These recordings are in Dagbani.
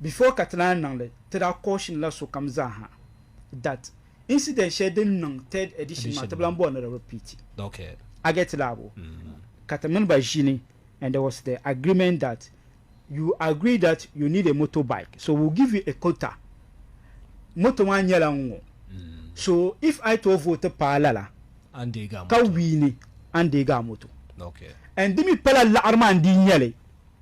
Before ka ti naan niŋ li, ti daa caution la sokam zaa ha that incident shɛli din niŋ third edition maa ti bi lan bɔri ni di repeat. A get it laa bo? Ka ti mini ba ʒini and there was the agreement that you agree that you need a motor bike so we'll give you a quota. Moto maa nyɛla n ŋɔ. So if I tooi vote paai lala ka win ni, a ni deegi a moto. And di mi pala laɣiri maa n-dii nyɛli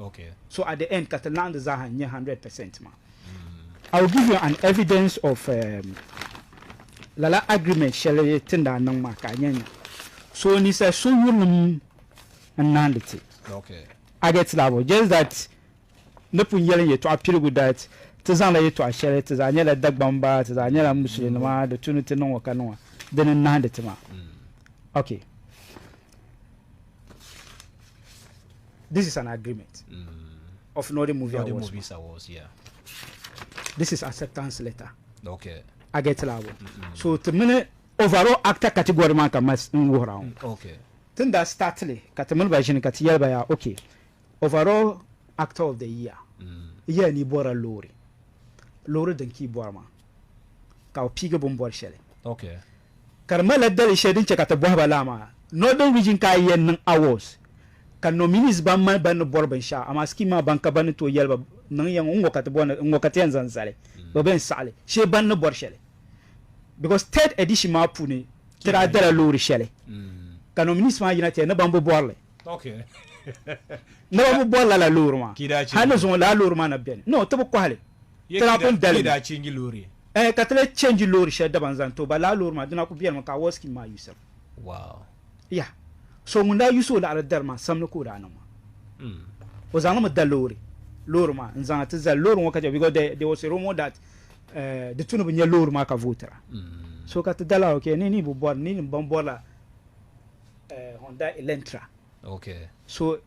Okay. So at the end ka ti laɣim di zaaha n-nyɛ hundred percent maa. I will give you an evidence of um, lala agreement shɛli tin daa niŋ maa ka a nya nya. So ni sɛ so yurilim n-naandi ti. Okay. I get that one. Just that ni pun yɛli n yɛtɔɣa piligu that ti zaŋla yɛtɔɣa shɛli ti zaa nyɛla Dagbamba ti zaa nyɛla Musulinima di tu ni ti niŋ ŋɔ ka niŋ dini n-naandi ti maa. Okay. This is an agreement mm. of Northern Movie Northern Awards. Movies Awards, yeah. This is acceptance letter. Okay. I get labo. Mm -hmm. So to mini overall actor category man ka mas n wuhira ŋɔ. Mm, okay. Tin da start li ka ti mini ba ʒini ka ti yɛli ba ya okay overall actor of the year. Mm. Yɛli ni bɔra loori. Loori din ki bɔri maa. ka o piigi bini boli shɛli. Okay. Ka di malila dali shɛli din chɛ ka ti bɔhi ba laa maa. Northern Region ka a yɛn niŋ awards ka nominees ban mali ban ni bɔri binshɛɣu amaa scheme maa ban ka ban ni tooi yɛli ba niŋ ya ŋɔ n ŋɔ ka ti bɔri ni n ŋɔ ka ti yɛn zaŋ zali bɛ bɛ n saɣili shee ban ni bɔri shɛli because third edition maa puuni ti daa dala loori shɛli ka nominees maa yina ti ya ni ban bi bɔri li. Ni ba bi bɔri lala loori maa. Hali ni zuŋɔ lala loori maa na beni. No, ti bi kɔhili. Ti daa pun dali mi. Eeh, ka ti lee change loori shɛli dabam zaŋ ti o. Ba lala loori maa, di na ku beni mi ka I was keen maa use it. Yah, so ŋun daa use o laɣiri dari maa, samdi ka o daa niŋ maa. O zaŋ li mi da loori, loori maa, n-zaŋ a ti zali loori ŋɔ ka chɛ, because there was a rumour that eh, di tu ni bi nya loori maa ka vote-ra. So ka ti dala, okay, ni ni bi bɔri, ni ni baŋ bɔri la. Honda Elantra so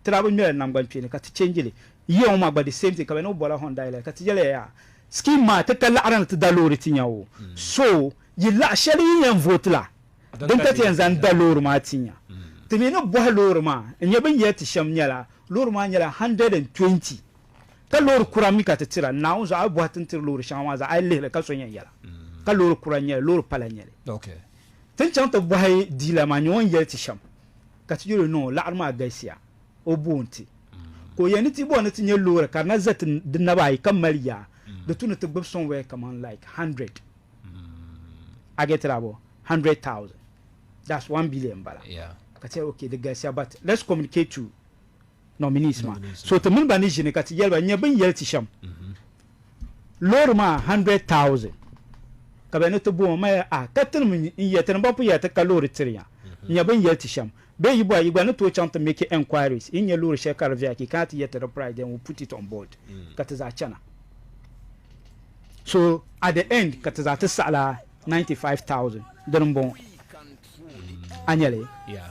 tirabu ŋmɛrili nangban kpeeni ka ti change li yiya ŋɔ maa gba the same thing ka be ni o bola Honda Elantra ka ti yeliya yaa scheme maa ti ka laɣiri ni ti da loori ti nya o so yi laɣi sheli yi yen vote la din ka ti yen zaŋ da loori maa ti nya ti mi ni bohi loori maa n nya bin yel ti shem nyela loori maa nyela 120 ka loori kura mi ka ti tira Naawuni zuɣu a yi bohi ti ni tiri loori sheŋa maa zaa a yi lihili ka so yen yela ka loori kura n nyeli loori pala n nyeli. Ti ni chaŋ ti bɔhi diila maa nyɛ o ni yɛli ti shɛm, ka ti yɛl o niŋ o laɣiri maa galisiya, o boon ti, ka o yɛn ni ti bɔhi ni ti nyɛ loori ka di na za ti di naba ayi ka mali yaa di tu ni ti gbib somewhere kaman like hundred. A get it abɔɔ? Hundred thousand. That's one billion m-bala. Ka ti yɛl okay di galisiya but let's communicate to nominees maa so ti mini ba ni ʒini ka ti yɛli ba nyɛ bin yɛli ti shɛm loori maa hundred thousand ka bɛ ni ti boom ma a ka tinim n yɛ tinim ba pu yɛ ti ka loori tiri ya nyɛ bin yɛli ti shɛm bee yi bɔha yi gba ni tooi chaŋ ti make enquiries yi nyɛ loori shɛli ka di viya ki kana ti yɛ ti di price then we put it on board ka ti zaa chana so at the end ka ti zaa ti saɣila ninety five thousand dini n bɔŋɔ a nyɛli yeah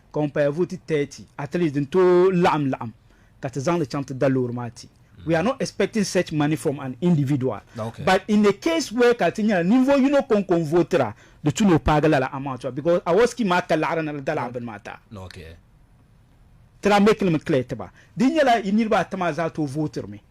ka ŋun paya vooti 30. At least din tooi laɣim laɣim ka ti zaŋli chaŋ ti da loori maa ti. We are not expecting such money from an individual but in a case where ka di ti nyɛla ninvuɣu yino ko n-ko n-vootira di tu ni o paagi lala amount maa because award scheme maa ka laɣiri ni di da lala bini maa ta tira make li mi clear ti ba. Di nyɛla yi niriba ata maa zaa tooi vootiri mi.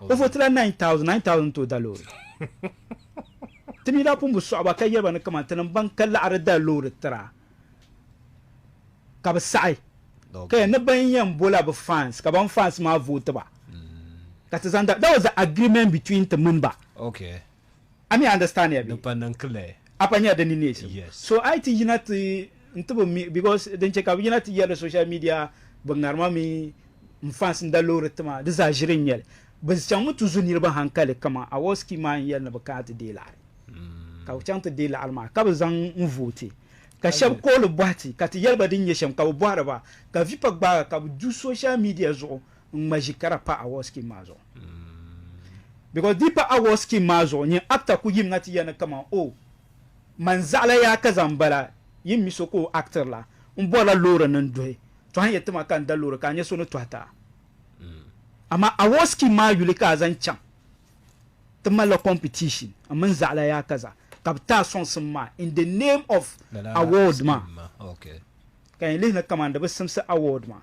O votila 9,000, 9,000 n-tooi da loori. Ti mi daa pun bi sɔɣi ba ka yɛli ba ni kaman tinim ban ka laɣiri da loori tira ka bi saɣi ka yɛli ni bɛn yɛn bola bɛ fans ka ban fans maa voti ba ka ti zaŋ da, that was the agreement between ti mini ba. Okay. A mi understand ya bee? A pa nya di ni neesim. So a yi ti yina ti n ti bi mi because din che ka bi yina ti yɛli social media bi ŋarima mi n fans n da loori ti maa di zaa ʒiri n nyɛli. Bi chaŋ mi ti zo niriba hankali kaman Awosky maa n yɛli ni bi kana ti deei laɣiri ka bi chaŋ ti deei laɣiri maa ka bi zaŋ n vooti ka shɛba kooli bɔhi ti ka ti yɛli ba din nyɛ shɛm ka bi bɔhiri ba ka vipa gbaagi ka bi du social media zuɣu n ŋma ʒi kara pa award scheme maa zuɣu because di pa award scheme maa zuɣu nyin actor ku yim na ti ya ni kaman oh man zaɣila yaa ka zaŋ bala yin mi so ka o actor la n bɔrila loori ni n duhi tɔha n yɛ ti ma ka n da loori ka a nya so ni tɔhi ti a amaa award scheme maa yuli ka a zaŋ chaŋ ti malila competition n mini zaɣila yaa ka za ka bi ti a sɔŋsim maa in the name of award maa ka yin lihi ni kaman di bi simsi award maa.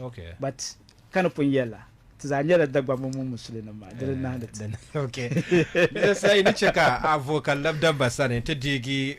Okay. But ka ni pun yɛli la ti zaa nyɛla Dagbaŋ mini Musulinim maa di ni nahindi ti. Okay. Di sayi ni chɛ ka a vo ka lab dabba sani ti deegi